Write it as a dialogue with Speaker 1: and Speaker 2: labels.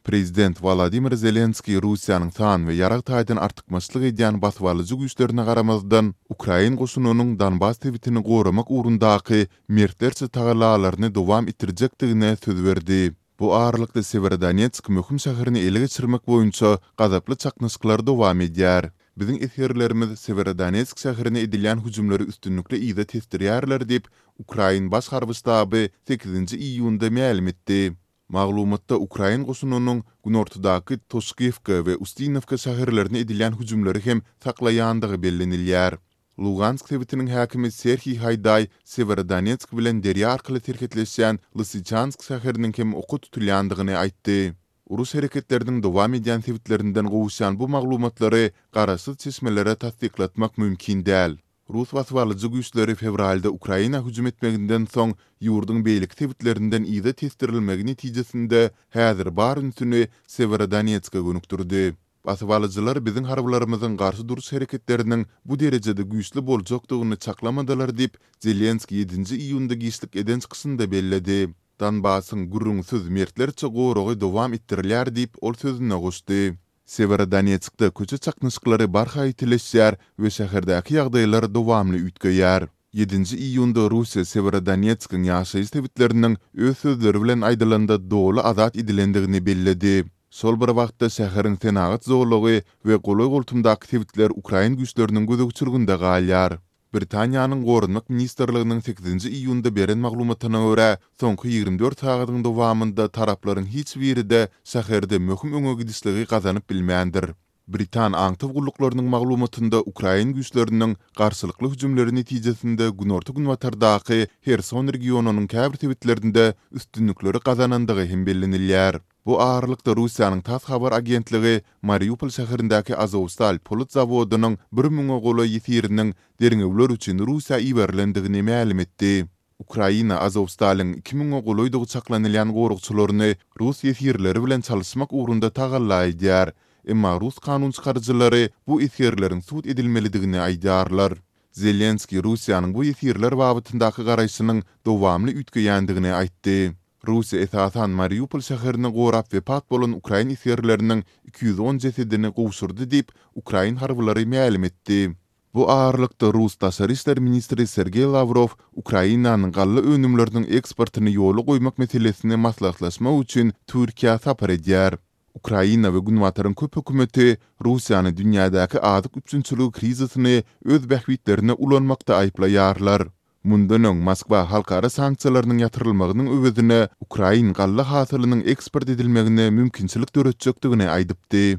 Speaker 1: Prezident Wolodymyr Zelenskiý Russiýanyň san we ýarag taýdan artykmaçlyk edýän basybalyjy güýçlerine garamazdan, ukrain goşunynyň Donbas sebitini goramak ugrundaky mertlerçe tagallalaryny dowam etdirjekdigine söz berdi. Bu aralykda Sewerodonetsk möhüm şäherini ele geçirmek boýunça gazaply çaknyşyklar dowam edýär. Biziň esgerlerimiz Sewerodonetsk şäherine edilýän hüjümleri üstünlikli yza tesdirýärler diýip, ukrain Baş harby ştaby sekizinji iýunda mälim etdi. Maglumatda ukrain goşunynyň günortadaky Toşkiwka we Ustinowka şäherlerine edilýän hüjümleri hem saklaýandygy bellenilýär. Lugansk sebitiniň häkimi Serhiý Haýdaý Sewerodonetsk bilen derýa arkaly serhetleşýän Lysyçansk şäheriniň hem oka tutulýandygyny aýtdy. Uruş hereketleriniň dowam edýän sebitlerinden gowuşýan bu maglumatlary garaşsyz çeşmelere tassyklatmak mümkin däl. Rus basybalyjy güýçleri fewralda Ukraina hüjüm etmeginden soň ýurduň beýleki sebitlerinden yza tesdirilmegi netijesinde häzir bar ünsüni Sewerodonetske gönükdirdi. Basybalyjylar biziň harbylarymyzyň garşy duruş hereketleriniň bu derejede güýçli boljakdygyny çaklamadylar diýip, Zelenskiý ýedinji iýunda giçlik eden çykyşynda belledi. Donbasyň gürrüňsiz mertlerçe goragy dowam etdirilýär diýip, ol sözüne goşdy. Sewerodonetskde köçe çaknyşyklary barha ýitileşýär we şäherdäki ýagdaýlar dowamly üýtgeýär. Ýedinji iýunda Russiýa Sewerodonetskiň ýaşaýjy sebitleriniň, öz sözleri bilen aýdylanda, doly azat edilendigini belledi. Şol bir wagtda şäheriň senagat zolagy we golaý-goltumdaky sebitler ukrain güýçleriniň gözegçilginde galýar. Britaniýanyň Goranmak ministrliginiň sekizinji iýunda beren maglumatyna görä, soňky ýigrimi dört sagadyň dowamynda taraplaryň hiç biri-de şäherde möhüm öňe gidişligi gazanyp bilmändir. Britan aňtaw gulluklarynyň maglumatynda ukrain güýçleriniň garşylykly hüjümleri netijesinde günorta-günbatardaky Herson regionynyň käbir sebitlerinde üstünlikleri gazanandygy hem bellenilýär. Bu aralykda Russiýanyň tass habar agentligi Mariupol şäherindäki Azowstal polat zawodynyň bir müňe golaý ýesiriniň derňewler üçin Russiýa iberilendigini mälim etdi. Ukraina Azowstalyň iki müňe golaýdygy çaklanylýan goragçylaryny rus ýesirleri bilen çalyşmak ugrunda tagalla edýär, emma rus kanun çykaryjylary bu esgerleriň sud edilmelidigini aýdýarlar. Zelenskiý Russiýanyň bu ýesirler babatyndaky garaýşynyň dowamly üýtgeýändigini aýtdy. Russiýa esasan Mariupol şäherini gorap wepat bolan ukrain esgerleriniň iki ýüz on jesedini gowşurdy diýip, ukrain harbylary mälim etdi. Bu aralykda, rus daşary işler ministri Sergeý Lawrow Ukrainanyň galla önümleriniň eksportyny ýola goýmak meselesini maslahatlaşmak üçin Türkiýä sapar edýär. Ukraina we Günbataryň köp hökümeti Russiýany dünýädäki azyk üpjünçiligi krizisini öz bähbitlerine ulanmakda aýyplaýarlar. Mundan öň Moskwa halkara sanksiýalarynyň ýatyrylmagynyň öwezine ukrain galla hasylynyň eksport edilmegine mümkinçilik döretjekdigini aýdypdy.